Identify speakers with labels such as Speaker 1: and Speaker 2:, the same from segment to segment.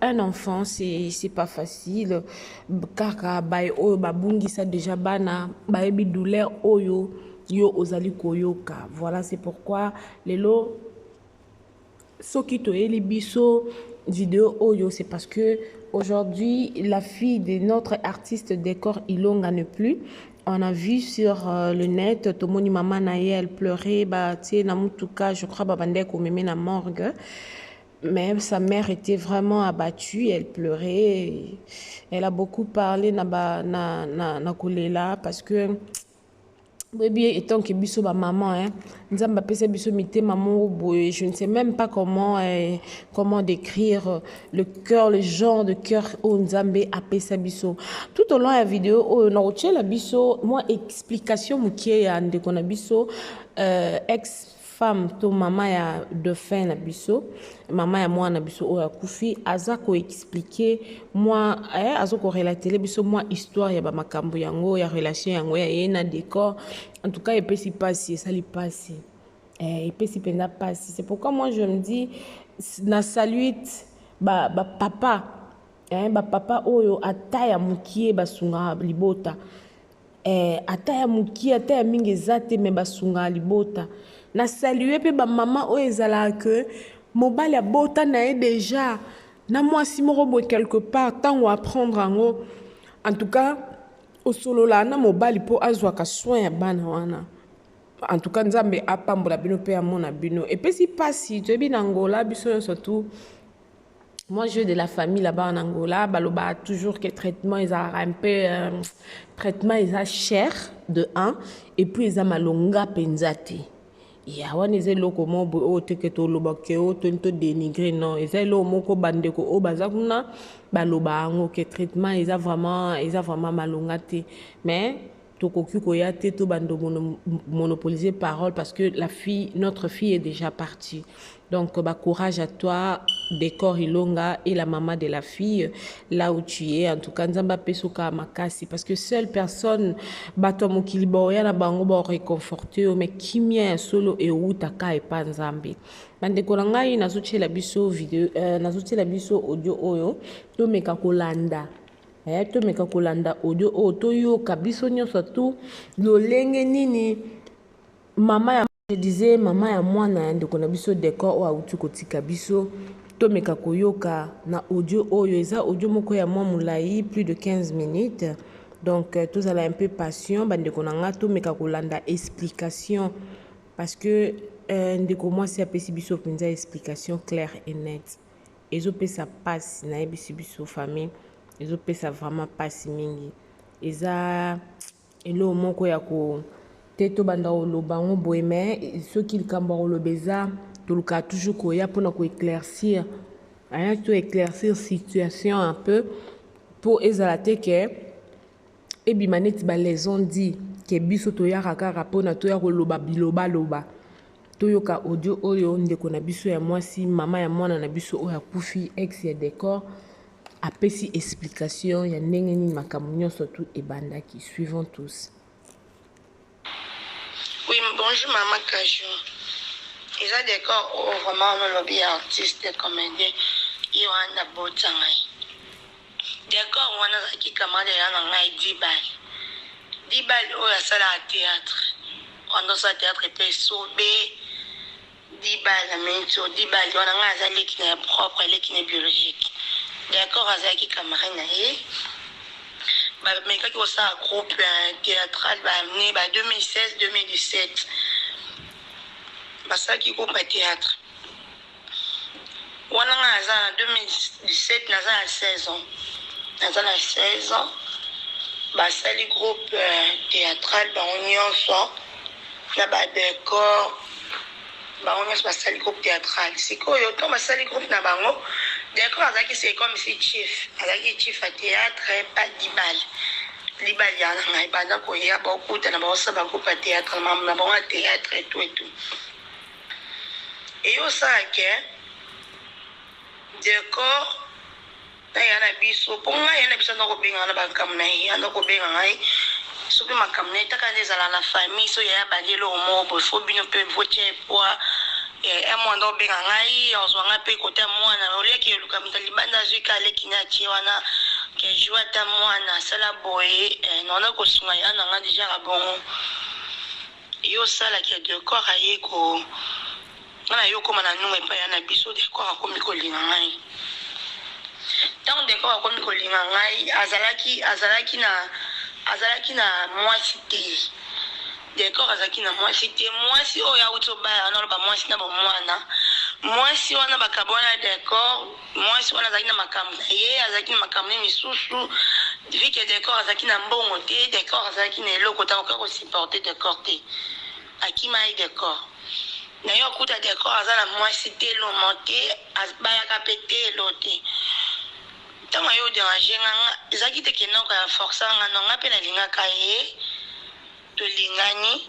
Speaker 1: un enfant c'est pas facile kaka baye oyo babungisa déjà bana bayebi douleur oyo yo ozali koyoka voilà c'est pourquoi lelo soki toyeli biso vidéo oyo c'est parce que aujourd'hui la fille de notre artiste décor ilonga ne plus on a vu sur euh, le net tomoni mama na ye elle pleurait batie na mutuka je crois babandaki komeme na morgue Mais sa mère était vraiment abattue, elle pleurait. Elle a beaucoup parlé na ba na na, na kolela parce que boyebi étant que biso ba maman hein nzambe apesa biso mitema moko boye je ne sais même pas comment eh, comment décrire le cœur le genre de cœur oyo nzambe apesa biso tout au long ya video oyo nakotyela biso mwa explication moke ya ndeko na biso euh, ex femme to mama ya defunt na biso mama ya mwana na biso oyo akufi aza ko expliquer mwa eh, aza ko relatele biso mwa histoire ya bamakambo yango ya relation yango ya ye na decor en tout cas epesi mpasi esali mpasi eh, epesi mpenza mpasi c'est pourquoi moi je me dis na saluite ba, ba papa eh, ba papa oyo ata ya mokie basungaka libota Eh, ata ya mukie ata ya mingi eza te me basungaa libota na salue mpe bamama oyo ezalaka ke mobali abota na ye deja na mwasi moko boye quelque part ntango apprendre yango en tout cas osololaa na mobali mpo azwaka soin ya bana wana en tout cas nzambe apambola bino mpe amona bino epesi mpasi toyebi na ngola biso nyonso tu Moi, j'ai de la famille là-bas en Angola. Baloba toujours que traitement, ils ont un peu. Euh, traitement, ils ont cher, de 1. Et puis, ils ont malonga penzati. ya wana eza eloko moko boye oyo teke toloba ke oyo toni todenigre non eza eloko moko bandeko oyo baza kuna baloba yango ke traitement eza vraiment eza vraiment malonga te mais tokoki koya te to bando monopoliser parole parce que la fille notre fille est déjà partie donc bah, courage à toi Décor Ilonga et la maman de la fille là où tu es en tout cas nzamba pesoka makasi parce que seule personne bato ya mokili baoya na bango baoreconforte yo mais kimia ya solo ewutaka epa nzambe bandeko na ngai nazotyela biso video euh, nazotyela biso audio oyo tomeka kolanda Yaya tomeka kolanda audio oyo toyoka biso nyonso tu lolenge nini mama ya je disais mama ya mwana ya ndeko na biso decor oyo auti kotika biso tomeka koyoka na audio oyo eza audio moko ya mwa molai plus de 15 minutes donc euh, tozala un peu patient bandeko na ngai tomeka kolanda explication parce que euh, ndeko mwasi apesi biso mpenza explication claire et nette Ezo pesa pasi na yebisi biso famille ezo pesa vraiment pasi mingi eza eloko moko ya ko te to banda koloba yango boye mais soki likambo ya koloba eza tolukaka toujours koya mpona ko éclaircir hein, to éclaircir situation un peu mpo ezala te ke ebima neti ba les ont dit ke biso toyaka kaka mpona toya koloba bilobaloba Toyoka audio oyo ndeko na biso ya mwasi, mama ya mwana na biso oyo akufi, ex ya Decor, apesi explication ya ndenge nini makambo nyonso tu ebandaki. Suivons tous.
Speaker 2: Oui, bonjour maman Kajou. Eza Decor oyo vraiment olobi ya artiste comédien ye wana botanga ye. Decor wana azalaki camarade ya yaya na ngai Dibal. Dibal oyo asalaka theatre. Wana osala theatre epai Esobe. Dibal ameni to Dibal wana ngai aza leki na ye propre, leki na ye biologique. Decor azalaki camarade na ye. Bamekaki kosala groupe eh, theatrale ba année ba 2016 2017. Basalaki groupe ya theatre. Wana nga naza na 2017 naza na 16 ans naza na 16 ans basali groupe euh, théâtral bango nyonso na ba décor bango nyonso basali groupe théâtral sikoyo ntango basali groupe na bango décor azalaki se comme si chief azalaki chief ya théâtre pa dibale libali ya na ngai banda koya baokutana baosala bagroupe ya théâtre na bango ya théâtre etu etu Eyo osala que Decor na yaya na biso po ngai yaya na biso aza kobenga na makambo na ye aza kobenga ngai soki makambo na ye taka nde ezala na famille so yaya abandi eloko moko boye fo bino mpe votia epwa eh, un mois aza kobenga ngai ozwa ngai mpe kota mwana oliaki eluka moto libanda azwi ka aleki na atie wana kejou ata mwana asala boye eh, naona kosunga yaya na ngai deja kabongo Yo osala ke decor aye ko nga nayo okoma na numa epai ya na biso decor akomi kolinga ngai ntango decor akomi kolinga ngai azalaki azalaki na azalaki na mwasi te decor azalaki na mwasi te mwasi oyo awuti obala wana oloba mwasi na bomwana mwasi wana bakabwana decor Mwasi wana azalaki na makambo na ye, azalaki na makambo ne misusu. Vu que Decor azalaki na mbongo te, Decor azalaki na eloko te, akokaki ko supporter Decor te. Akima ye Decor. Na yo okuta Decor aza na mwasi te, lomo te, bayaka pe te, elo te. Tango aye oderange nga, nga ezalaki te ke noko ya forcer nga, non, nga pe nalingaka ye, tolingani.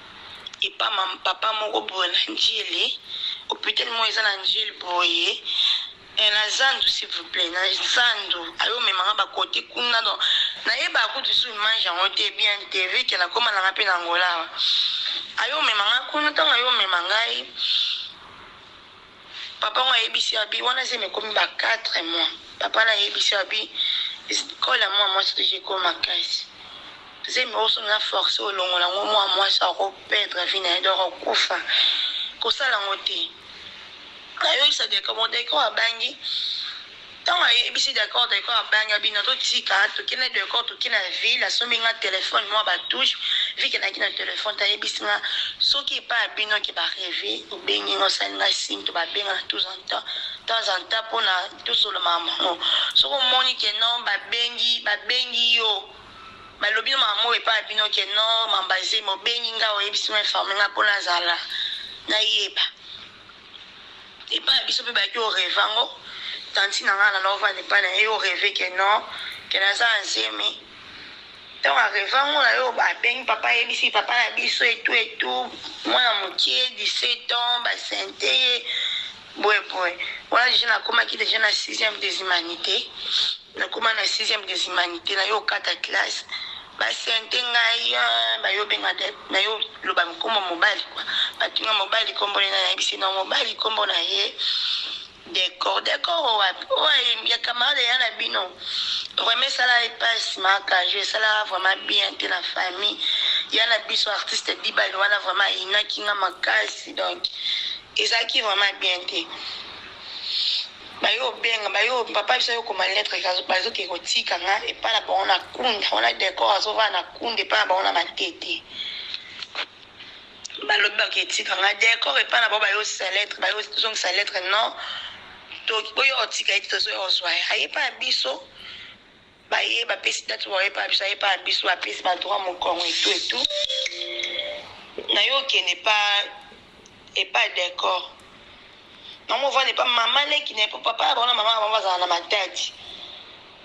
Speaker 2: epa ma papa moko boye na ndjili hopital moko eza na ndjili boye eh, na zandu s'il vous plaît na zandu ayo mema nga ba kote kuna donc nayeba kutu su image yango te bien te vu que nakoma nanga mpe na angola ayo mema nga kuna ntango ayo mema ngai Papa yango ayebisi abi wana zemi ekomi ba quatre mois papa na ayebisi abi colle ya mua mwasi deja ekomi makasi zemi ozo na force olongola ngo mua mwasi ako perdre vie na ye donc akokufa kosala ngo te nayokisa deka mo deka oyo abangi Tango ayebisi Decor, Decor abanga bino to tika toke na Decor toke na ville asombi nga telephone mua ba touche vu que nayaki na telephone te ayebisi nga soki epai ya bino ke ba reve obengi nga osali nga signe to ba benga na tous en temps temps en temps pona tosolo ma mango soki omoni ke non ba bengi ba bengi yo balobi no mama moko epai ya bino ke non mamba zemi obengi nga oyebisi nga informe nga pona azala na yeba epa ya biso pe bayaki o reve yango tantine na nga na nao vanda epa na ye o reve ke non ke na za na zemi tango a reve yango na yo a bengi papa a yebisi papa na biso etou etou mwana mokie 17 ans ba sente ye boye boye wana deja na komaki deja na 6 des humanites Nakoma na sixième des humanites nayo okata classe ba sente ngai hein, bayo benga de nayo loba kombo mobali quoi batunga mobali kombo nena nayebisi na mobali kombo na ye decor decor wapi oyo ya camarade ya na bino vraiment esala epasi makajo esala vraiment bien te na famille ya na biso artiste dibali wana vraiment ayinaki nga makasi donc ezalaki vraiment bien te Baye obenga baye oyo papa biso ayo koma lettre bazo ke kotika nga epa na bango na kunda wana decor azo vana na kunda epa na bango na matete balobi bake etika nga decor epa na bango bayo sa lettre bayo zongisa lettre non to oyo otika ete tozo ozwa ayepa biso Baye bapesi date oyo epa biso epa biso bapesi ba droit mukongo et tout et tout nayo okende epa epa decor na movanda epa mama leki na epa papa bango na mama na bango bazala na matadi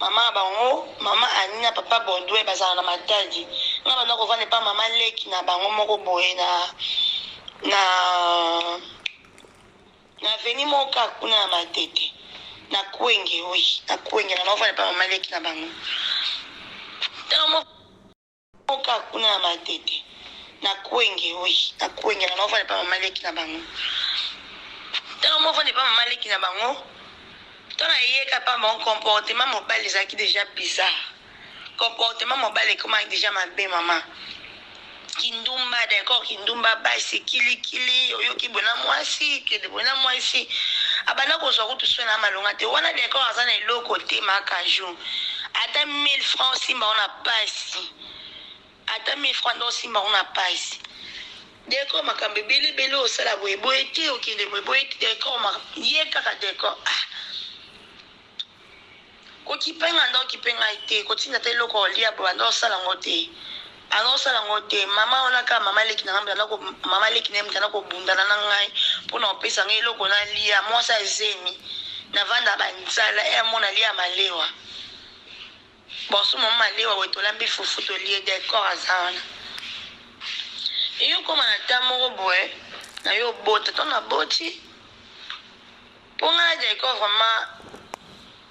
Speaker 2: mama na bango mama ani na papa bordwe bazala na matadi nga banda kovanda epa mama leki na bango moko boye na na Na avenue moko kaka kuna ya Matete, na Kwenge, oui, na Kwenge, na naovanda epai ya mama leki na bango. Tango moko moko kaka kuna ya Matete, na Kwenge, oui, na Kwenge, na naovanda epai ya mama leki na bango. Tango moko vanda epai ya mama leki na bango, tango ayeka epai ya bango, comportement mobali ezalaki dejà bizarre. Comportement mobali ekomaki dejà mabe maman. Kindumba decor kindumba basi kilikili oyoki boye na mwasi kende boye na mwasi abanda kozwa kutu soin na malonga te wana decor aza na eloko te ma kaju ata 1000 francs osimba ona pasi ata 1000 francs nde osimba ona pasi decor makambo ebele ebele osala boye boye te okende boye boye te decor ma- ye kaka decor ah Kokipe nga nde okipe ngai te kotinda ata eloko ya kolia boye banda osala yango te banda osala yango te mama wana kaka mama leki na ngai banda ko mama leki na ye banda kobundana na ngai mpo na kopesa ngai eloko nalia mwasi ya zemi navanda banzala e amo nalia malewa boso mama malewa boye tolambi fufu tolie decor aza wana eyokoma na ta moko boye na yo obota to na boti Po nga na jacob vraiment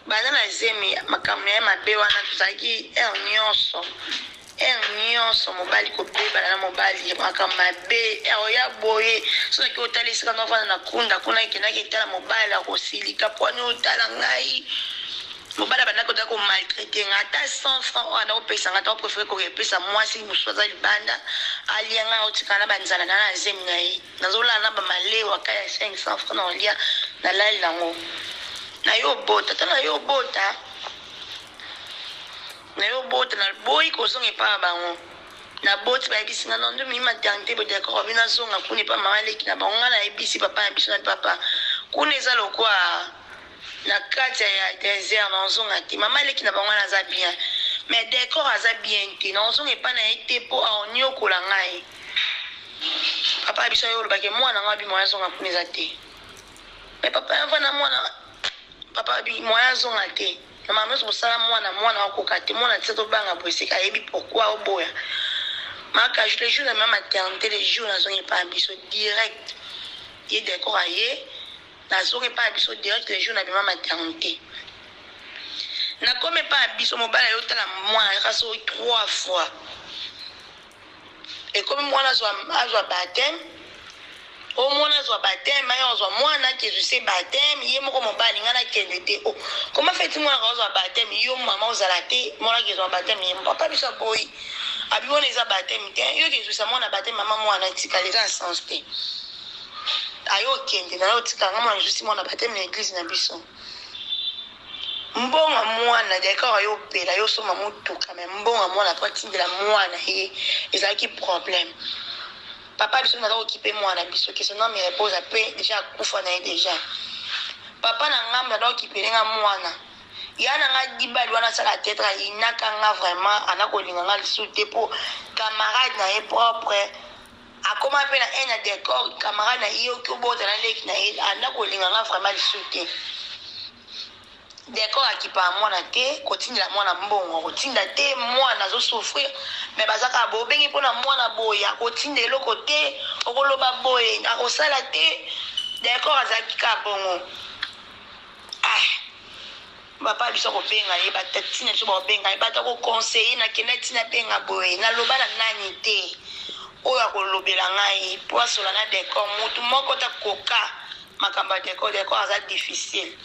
Speaker 2: banda na zemi makambu naye mabe wana tozalaki heure nionso heure nionso mobali kobebana na mobali makambu mabe heure oya boye soki otali esika nazo vanda na kunda kuna ekendaki etala mobali akosilika po ani otala ngai mobali abanda koda ko maltraite nga ata 100 francs oyo anao pesa nga tao prefere ko pesa mwasi mususu aza libanda alia nga otikala na ba nzala na na zemi naye Nazo lala na ba malewa ka ya 500 francs nao lia na lali nango nayo obota to nayo obota nayo obota na boyi ko zonga epa ya bango na boti ba yebisi nga nondo mi maternité bo d'accord bino azonga kuna epa mama leki na bango nga na yebisi papa na biso na papa kuna eza lokwa na kati ya desert na ozonga te mama leki na bango aza bien mais decor aza bien te na ozonga epa na ye te po aoniokola ngai papa na biso yo olobaki mwana ngo abi moyen azonga kuna eza te me papa yava na mwana papa abi moyen azonga te na mama nyonso kosala mwana mwana akoka te mwana tisa tobanga boye sika ayebi pourkui oboya maka le jour na ma maternité le jour nazongi epai ya biso direct ye decor aye nazongi epai ya biso direct le jour na bima maternité nakomi epai ya biso mobala yo otala mwana yaka soki trois fois Ekomi muana azwa azwa bapteme omona azwa bapteme aye azwa mwana akezwi se bapteme ye moko mobali ngai nakende te o koma feti mwana ka ozwa bapteme yo mama ozala te mwana akezwa bapteme ye papa biso aboyi abi wana eza bapteme te yo kezwisa mwana bapteme mama mwana etikala eza na sens te aye okende nayo otika ngai mwana ezusi mwana bapteme na eglise na biso Mbonga muana decor aye opela yo osomba mutuka mais mbonga muana po atindela muana ye ezalaki problème papa biso naza kokipe muana na biso que son ame repose la paix dejà akufa na ye dejà papa na ngambo naza kokipele nga muana ya na nga dibali wana asala tetre ayinaka nga vraiment ana kolinga nga lisusu te po camarade na ye propre Akoma pe na haine ya decor camarade na ye oki obota na leki na ye anda kolinga nga vraiment lisusu te decor akipaka mwana te kotindela mwana mbongo akotinda te mwana azo souffrir me baza kaka boye obengi mpo na mwana boye akotinda eloko te okoloba boye akosala te decor azalaki kaka bongo ah. Papa na biso akobenga ye, ba tati na biso bakobenga ye, bato ya ko conseiller na kendaki ti nabenga boye, naloba na nani te oyo akolobela ngai po asola na Decor, mutu moko te akoka makambo ya Decor, Decor aza difficile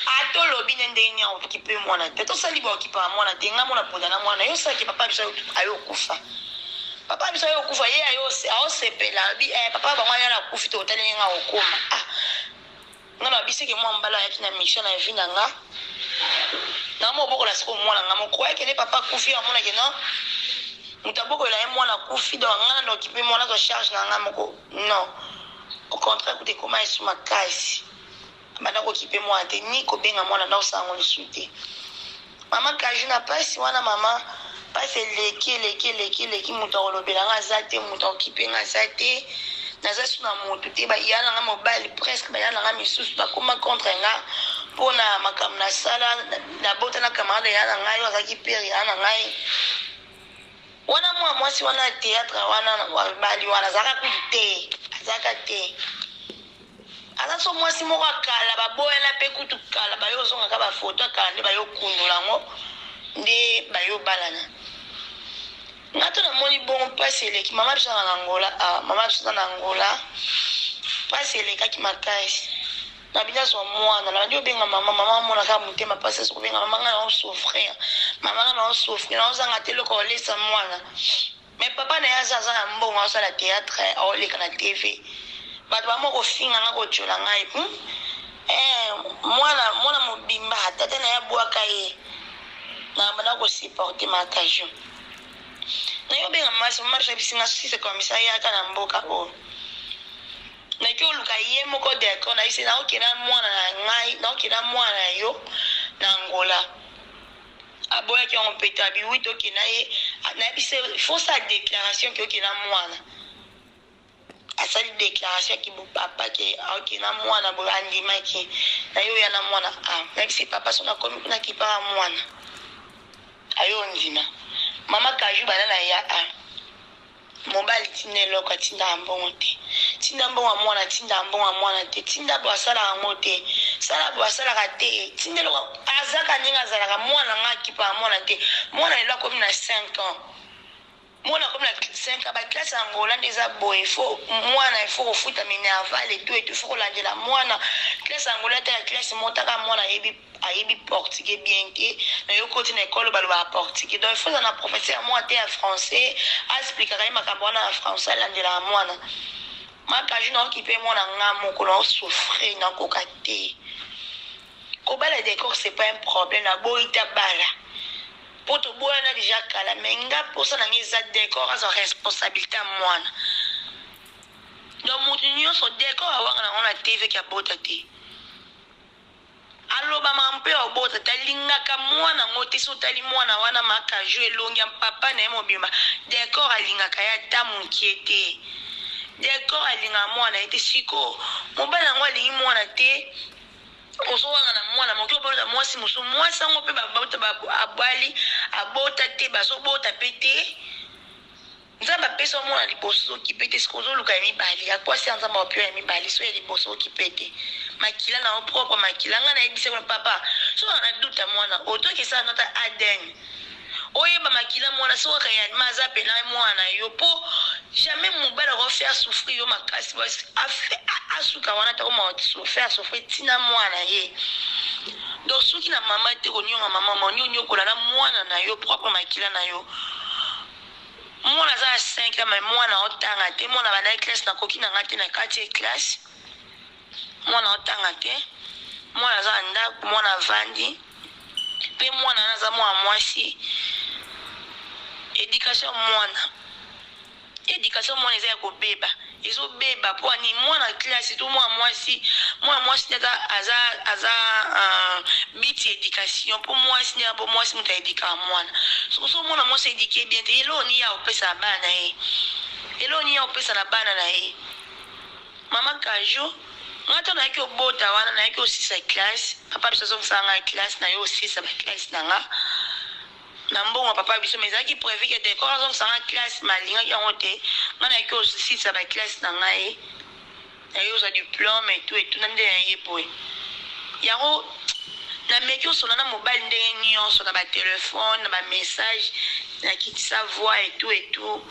Speaker 2: ata olobi ne ndenge nini aokipe mwana te, tosali baokipaka mwana te, ngai mona ponda na mwana yo saki papa biso ayo okufa papa biso ayo okufa ye ayo aosepela abi eh, papa bango ayana akufi tokotali ndenge akokoma ah Nga na bisi ke mwa mbala ayaki na mission na vie na nga. Na mo bokola siko mwana nga mo croyait que ne papa kufi a mona ke non. Muta boko la ye mwana kufi donc nga na occuper mwana zo charge na nga moko. Non. Au contraire kute koma esu makasi. Banda ko occuper mwana te ni ko benga mwana na osango lisu te. Maman kaju na pasi wana maman pasi eleki eleki eleki eleki moto akolobela nga aza te moto akokipe nga aza te naza su na moto te baya na nga mobali presque baya na nga misusu bakoma contre nga mpo na makambo nasala nabota na camarade ya na ngai oyo azalaki pere ya na ngai wana mwa mwasi wana ya théâtre wana na bali wana azalaka kutu te azalaka te aza so mwasi moko ya kala baboyana mpe kutu kala baye ozongaka bafoto ya kala nde baye okundola yango nde baye obalana nga to namoni bongo mpasi eleki mama biso na angola ah, mama biso na angola mpasi elekaki makasi na bino azwa mwana na bandi obenga mama mama amonaka motema mpasi azo kobenga mama ngai naosouffrir mama ngai naosouffrir naozanga te eloko olesa mwana Mais papa naye aza aza na mbongo azo sala theatre azo leka na TV batu ba mo ko finga nga ko tchola nga hum eh mwana mwana mobimba tata naye abuaka ye na banda ko supporter ma kajo naye obenga masi masi abisi nga si c'est comme ça yaka na mboka oyo oh. naki oluka ye moko decor na yise naokenda mwana na ngai naokenda mwana na yo na angola aboyaki yango mpe te abi wi toke na ye nayebisa ye fo osala déclaration ke oke na mwana asali déclaration ki bopapa ke oke na mwana boye andimaki na ye oya na mwana a ah, nayebisi papa so nakomi kuna kipaka mwana ayo ondima mama kaju bana na ya a ah. Mobali tinda eloko atindaka mbongo te tinda mbongo ya mwana atindaka mbongo ya mwana te tinda bo asalaka yango te sala bo asalaka te tinda eloko azaka ndenge azalaka mwana nga akipaka mwana te mwana lelo akomi na 5 ans mwana akomi na 5 ans baklase ya ngola nde eza boye fo mwana ifo kofuta minerval etu etu fo kolandela mwana klase ya ngola ta ya klase motaka mwana ayebi ayebi portugais bien te mais yo okoti na ecole balobaka portugais donc il faut ozala na professeur moko ateya français a explikaka ye makambo wana na français alandelaka mwana ma kaju na okipe mwana nga moko na osouffrir na koka te kobala decor c'est pas un problème na boyi ta bala mpo toboyana deja kala me nga mposa na nga eza decor azwa responsabilité ya mwana donc moto nyonso decor awanga nango na tv ke abota te Aloba makambo pe obota te alingaka mwana yango te soki otali mwana wana ma kajou elongi ya papa naye mobimba decor alingaka ye ata mukie te decor alingaka mwana naye te sikoyo mobali yango alingi mwana te ozo wangana mwana moke obota mwasi mosusu mwasi yango pe abali abota te bazo bota pe te Nzambe apesi yo mwana liboso ozo kipe te sikoyo ozo luka ya mibale ya kwasi ya nzambe akopi yo ya mibale so ya liboso okipe te makila na yo propre makila nga nayebisa yo papa so kaka na doute ya mwana otoki esala nota adn oyeba makila mwana so kaka ya ma aza pena mwana na yo po jamais mobali ako faire souffrir yo makasi asuka wana tako ma faire souffrir tina mwana ye donc soki na mama te konionga mama ma onioniokola na mwana na yo propre makila na yo Mwana aza na cinq ans mais mwana otanga te mwana abandaki classe na koki na nga te na katie classe mwana otanga te mwana aza na ndako mwana avandi pe mwana wana aza mwana mwasi education mwana education mwana eza ya kobeba ezobeba po ani mwana classe to mwana mwasi mwana mwasi nde aza aza aza uh, biti education po mwasi nde po mwasi moto aedikaka mwana soko so mwana mwasi edike bien te eloo ni ya kopesa na bana na ye eloo ni ya kopesa na bana na ye mama kajo nga ntango nayaki obota wana nayaki osisa classe papa biso azongisaka ngai classe nayo osisa baklasse na nga na mbongo ya papa na biso mais ezalaki prevu ke decor azongisa nga classe mais alingaki yango te nga nayaki kosilisa ba classe na ngai nayaki kozwa diplome etu etuna nde na ye boye yango nameki osola na mobali ndenge nyonso na batelefone na bamessage nakitisa voi etu etu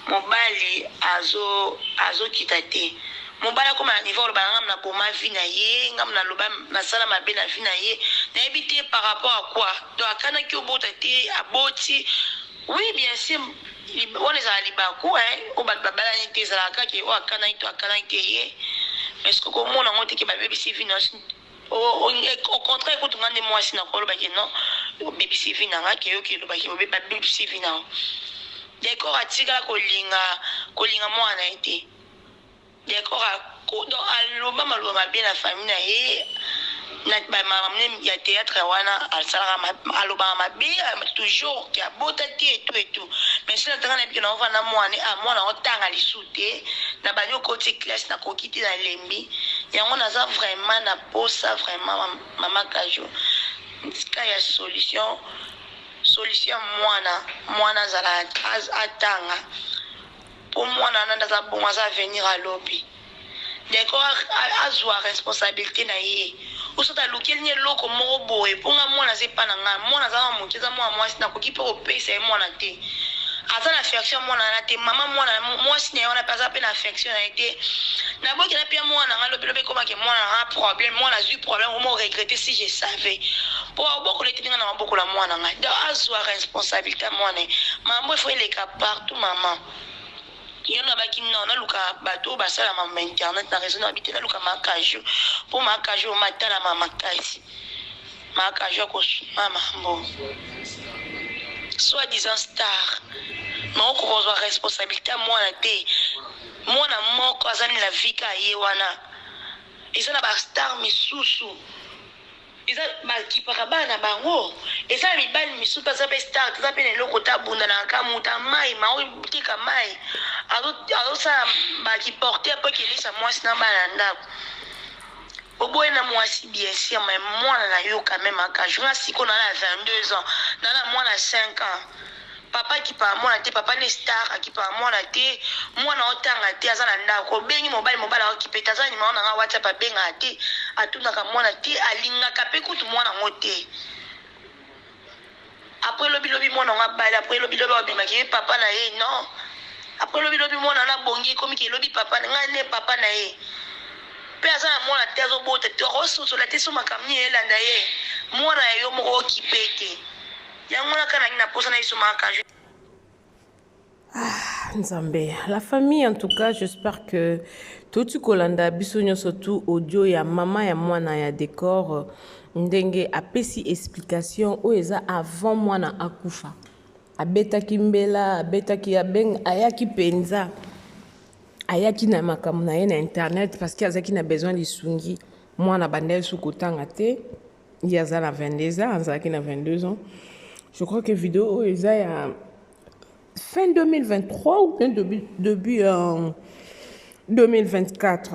Speaker 2: Mobali azo azo kita te. Mobali akoma na niveau aloba nanga na boma vie na ye nga na loba na sala mabe na vie na ye na yebi te par rapport à quoi donc akanaki obota te aboti oui bien sûr wana ezala libaku hein o bato babalani te ezalaka kaka oyo akanaki to akanaki te ye mais soki okomona yango te ke babebisi vie na Au contraire kutu nga nde muasi na ko loba ke non obebisi vie na nga ke yo ke loba ke obebisi vie na Decor atikala ko linga ko linga muana na ye te Decor a donc aloba maloba mabe na famille na ye na ba mamne ya théâtre wana asalaka alobaka mabe toujours ke abota te et tout et tout mais sila tanga na biki na ovanda muana ah muana otanga lisusu te na bandi okoti classe na koki te na lembi yango naza vraiment na posa vraiment maman kajou tika ya solution solution ya mwana mwana azala atanga po mwana wana nde aza bongo aza avenir ya lobi ndeko azwa responsabilite na ye Ou soit alukeli nga eloko moko boye po nga mwana aza epa na nga mwana aza mwa moke aza mwana mwasi nakoki pe kopesa ye mwana te aza na affection ya mwana wana te mama mwana mwasi na ye wana pe aza pe na affection na ye te naboki na pia mwana na nga lobi lobi ekoma ke mwana na nga problème mwana azwi problème omo regrette si je savais po abokola etindi nga na mabokola mwana nga donc azwa responsabilité ya mwana ye mambo efo eleka partout maman Ye alobaki non naluka batu oyo basalama ma internet na reseau na bite naluka ma kajou po ma kajou matalama makasi ma kajou akosuma mambo soit disant star mais okozwa responsabilité ya mwana te mwana moko aza na vika ye wana eza na bastar misusu Eza ba kipaka bana na bango eza na mibali misusu pe aza pe star te aza pe na eloko te abunda na nkamu ta mayi ma oyo teka mayi azo azo sala ba ki porter po kelisa mwasi na bana na ndako oboye na mwasi bien sûr mais mwana na yo quand même aka jour na siko na la 22 ans na la mwana 5 ans Papa akipaka mwana te papa nde star akipaka mwana te mwana otanga te aza na ndaku obengi mobali mobali aokipe te aza na numero na nga whatsapp abengaka te atunaka mwana te alingaka pe kutu mwana yango te après lobi lobi mwana yango abali après lobi lobi abimaki ye papa na ye non après lobi lobi mwana wana abongi ekomi ke lobi papa na ngai nde papa na ye mpe aza na mwana te azobota te akososola te so makambo nini elanda ye mwana ya yo moko okipe te Yango wana kaka nangi na posa na esomaka kaju. Ah,
Speaker 1: Nzambe, la famille en tout cas, j'espère que toti kolanda biso nyonso tout audio ya mama ya mwana ya decor ndenge apesi explication oyo eza avant mwana akufa. Abetaki mbela, abetaki abeng, ayaki penza. Ayaki na makambo na ye na internet parce que azaki na besoin lisungi. Mwana banda ye sukutanga te. ye aza na 22 ans azalaki na 22 ans je crois que video oyo eza ya fin 2023 ou bien début, début euh, 2024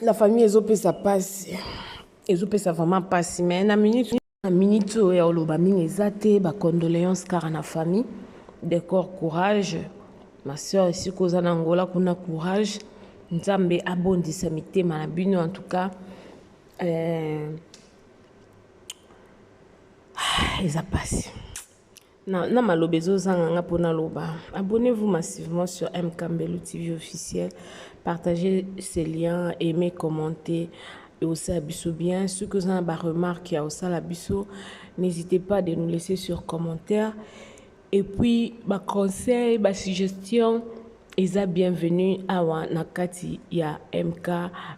Speaker 1: la famille ezopesa mpasi ezopesa vraiment mpasi mais na minute na minute oyo ya oloba mingi eza te bacondoléance kaka na famille decor courage ma soeur esika oza na ngola kuna courage nzambe abondisa mitema na bino en tout cas Euh, ah, eza pasi na, na maloba ezozanga nga mpo naloba abonnez-vous massivement sur mkambelu tv officiel partagez ce lien aimez commentez eosala biso bien soki oza na baremarque ya osala biso n'hésitez pas de nous laisser sur commentaire Et puis ba conseils, ba suggestions eza bienvenue awa na kati ya MK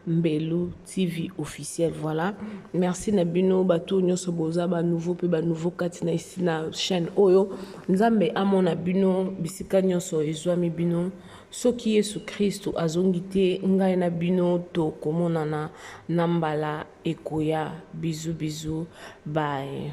Speaker 1: Mbelu TV officiel. Voilà. Merci na bino bato nyonso boza ba nouveau pe ba nouveau kati na isi na chaîne oyo. Nzambe amona bino bisika nyonso ezwami bino. soki yesu kristu azongi te ngai na bino tokomonana na mbala ekoya bizu bizu baye